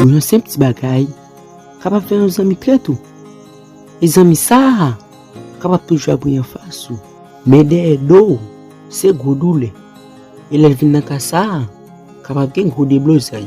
Bon yon senp ti bagay kapab fè yon zanmi trèt ou. E zanmi sa a kapab toujou ap ri anfas ou. Men dèyè do ou se gwo doulè. E lè l vin nan ka sa a, kapab gen gwo deblozay.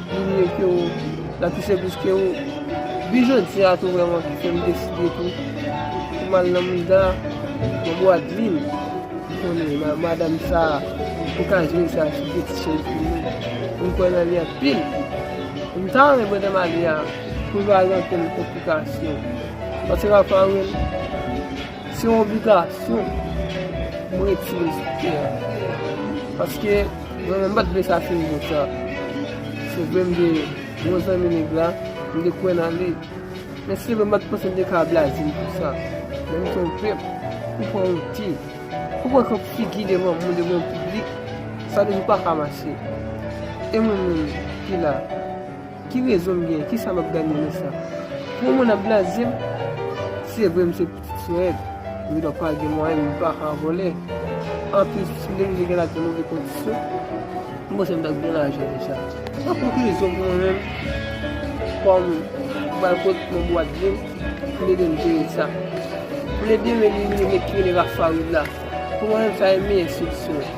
Li vle ke ou la touche plis ke ou. Depi jodi a tou vreman ki fè m deside tou pou m al nan mouda, nan Bwadvil. M konnen nan madam sa a, m ka jwenn sa ki gen ti chèz pou mwen. M kwè nan li anpil. M ta renmen mwen te mari a pou l pa gen okenn konplikasyon. Paske m ap anril. Se yon obligasyon pou mwen retire sou tè a. Paske mwen menm m pat vle sa fini konsa. Se vre m te bon zanmi nèg la, m te kwè nan li. Men se vre m pat panse m te ka blaze l konsa. Men m twonpe m. M pa wonte. Pou pran kèk figi devan moun, devan yon piblik, sa toujou pa ka mache. E mwen menm ki la. Ki rezon m gen? Kisa m ap gagner nan sa? Pou yon moun ap blaze m, se vre m se pitit Soed, m gendwa pa gen mwayen, m pa ka vòlè. Anplis, si m te rive gen lavi nan move kondisyon, m panse m ta gen lajan deja. An konklizyon pou mwen menm, fò m bay kont mwen pou Adlin, m ede l jere sa. M ede m elimine nèg ki rele Rafawi la. Pou mwen menm sa e meyè solisyon an.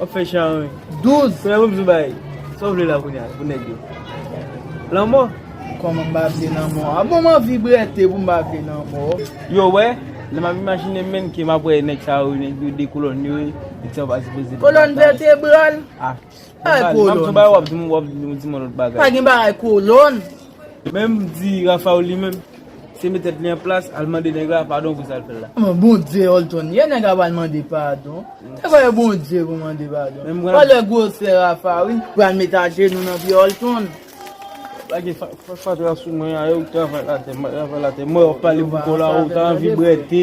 Wap fè chan wi. 12. Frè wap jou bay. Sa w vle la kounya pou nèg yo? Lanmò? Kòman m pa vle lanmò a? Bon m anvi brète pou m pa vle lanmò. Yo wè, lè m ap imajine menn ke m ap wè nèg sa yo, nèg yo 2 kolòn yo e, nèg sa yo pa sipoze. Kolòn vètebral? Ay kolòn sa. M ap tou bay wap di m wap di m yon lòt bagay. Pa gen bagay kolòn. Menm di Rafaul li menm se met tèt li an plas al mande nèg la padon pou sal fèl la. M'en bondye Olton ye nèg la pral mande padon se voye bondye pou mande padon gade gwosè Rafa wi pral met ajenou nan pye Olton. Lage fatra sou mwen a ew k travay latè mwen travay latè mwen wap pale pou kòw la ou ta anvi brète.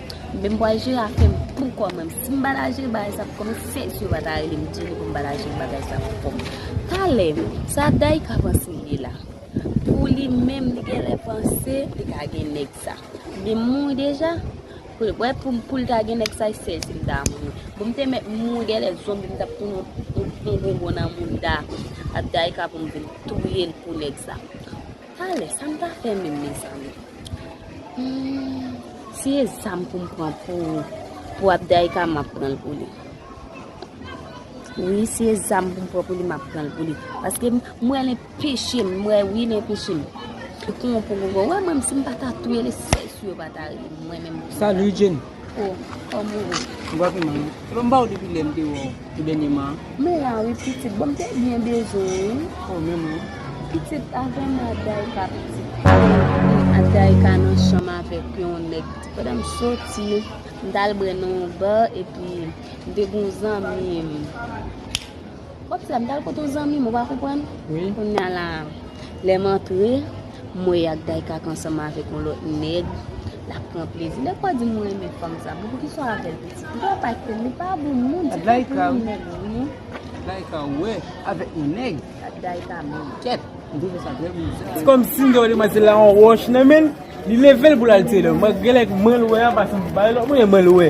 Menm bwa jira a fèm pou kòm menm si m ba la jira bagay sa pou kòm menm fè jira pa ta rele m di li pou m ba la jira bagay sa pou kòm talè sa daika panse li ye la pou li menm li genlè panse li ka gen nèg sa li mouri deja wè pou m pou l ta gen nèg sa se sèl si m ta mouri pou m te mèt mouri genlè zonbi m tap tounen yon bonbon nan mouda ak daika pou m vin touye l pou nèg sa. Talè sa m ta fè menm mezanmi humm si e zam pou m pran pou Abdaïka map pran l pou li wi si e zam pou m pran pou li map pran l pou li paske m wè l enpeche m m wè wi l enpeche m pou kongo kongo wè menm si m pata touye l espè sou yo pata ri m mwen menm Salut Jenny. Oh kòm ou ret. Mwen pa vin non. Epa m baw depi lèm te wèw tou dènyeman an. Mwen la wi pitit bon m te byen bezwen ou wi. Oh menm wi. Pitit avèm nan Adayika pitit. Adayika nan chanm avèk yon nèg pandan m soti m tal bre nan yon bar epi m te gen yon zanmim. Wap di la m tal kote yon zanmi m ou pa konprann? Wi. Kounya la lèm antre m wè yak Daykak ansanm avèk yon lòt nèg lap pran plezi. Nèg pa di m renmen fanm sa. Bon poukisa w avèl pitit? Poukisa wap ak tel? Li pa bon moun se pa pou yon nèg wi. Dayka wè avèk yon nèg. Dayka menm. Kèt. M twouve sa trè bizar. Se kòmsi m te wè demwazèl la yon wòch nan men l. Li leve l pou l al tire l. Mwen genlè k mwen l wè a paske m bay lòt moun e mwen l wè.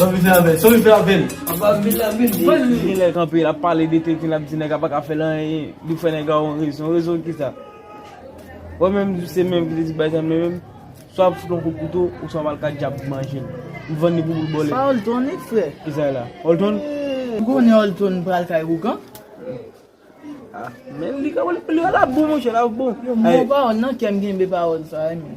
San rive avèl, san rive avèl. Anba vil la vil li. Li genlè kanpe lap pale de teknik lap di nèg la paka fèl anyen li fè nèg la yon rezon, rezon kisa? Wè menm se menm ki te di bay zam nan menm swa wap fout yon kout kouto ou swa wal ka djab manjel ou vann li pou boul bòlèt. Sa Olton li fre. Kisa e la? Olton? Ou konnen Olton pral kay ougan? Ah men li ka wè li ala bon monchè la bon. Yo mò pawòl nan kèm genbe pawòl sa wi.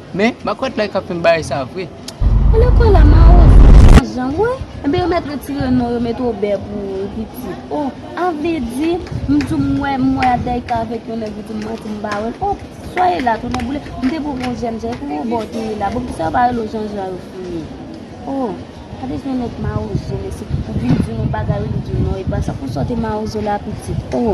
Men makwèt la kap fèm bay sa vre. Elèv kolè mawozo san jan wi. Ebyen yo mèt retire non yo met Obè pou pitit oh an vle di m di w m wè m wè Adèyka avèk yon nèg ou di m manti m pa wè l oh soyez là tou nèboule m te pou gon jèn jan e pou Obè w te ye la bon pou sa yo pa rele w jan jan yo fini oh gade jan yon nèg mawozo mesye ou vin di l yon bagay ou vin di l non epa sa pou sa w te mawozo la pitit oh.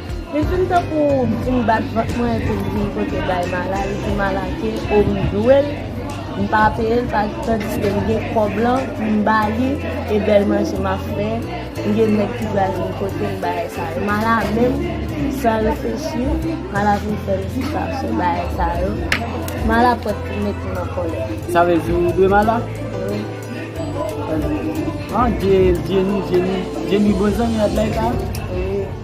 Li fin tankou vin bat vant mwen epi li vin pote bay Mala, li di Mala ke o m dwe l, m pa peye l paske tandiske m gen kòb lan pou m ba li e bèl manje m ap fè, m gen nèg ki pral vin pote m bagay sa yo. Mala menm san reflechi, Mala vin fè m di chache bagay sa yo. Mala prèt pou mete m an kòlè. Sa vle di ou dwe Mala? Wi. An, Djeni, Djeni, Djeni bon zanmi Adlay sa? Wi.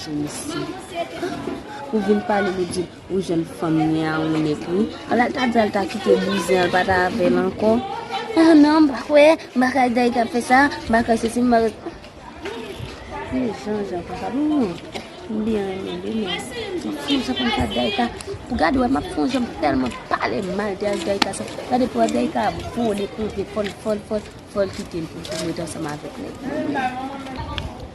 Sou mesye Pou vin pale li di ou jèn fanm li a ou nèg li Ala l ta di al ta kite bouzen an l pa ta avè l ankò Ah non m pa kwè m pa kwè Dayik ap fè sa m pa kwè sesi m pa kwè Li jan jan konsa m m byen renmen li men m ap fon jan konn sa Dayik a Pou gade wè m ap fon jan m tèlman pale mal de ak Dayik a sa gade pou wè Dayik a ap vole konte fò l fò l fò l fò l kite m pou m ret ansanm avèk nèg li.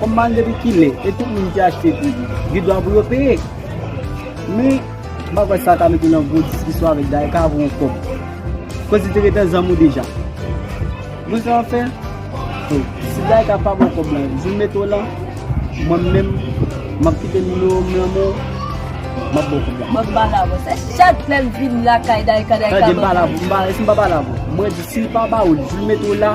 Kom mal depi kile e tout moun ki achte tou gen dwa pou yo peye. Men, mpa kwè sa ka mete nan gwo diskisyon avèk Dayè ka vo yon kòb. Koz li te ret nan zanmi w deja. Mwen sa map fè? Bon, si Dayè ka pa ba w kòb la, di l mete w lan, mwen menm map kite nimewo m lan men w, map ba w kòb la. Mwen pa la vo sa. Chak lèm vin lakay Dayè ka Dayè ka banm kòb. Tande, mpa la vo. Mpa, si mpa pa la vo. Mwen di si l pa ba w li, di l mete w la.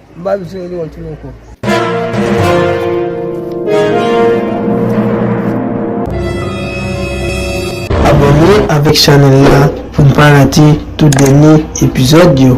M pa bezwen li yon ti loko. Abòne avèk chanèl la pou n pa rate tout dènye epizòd yo.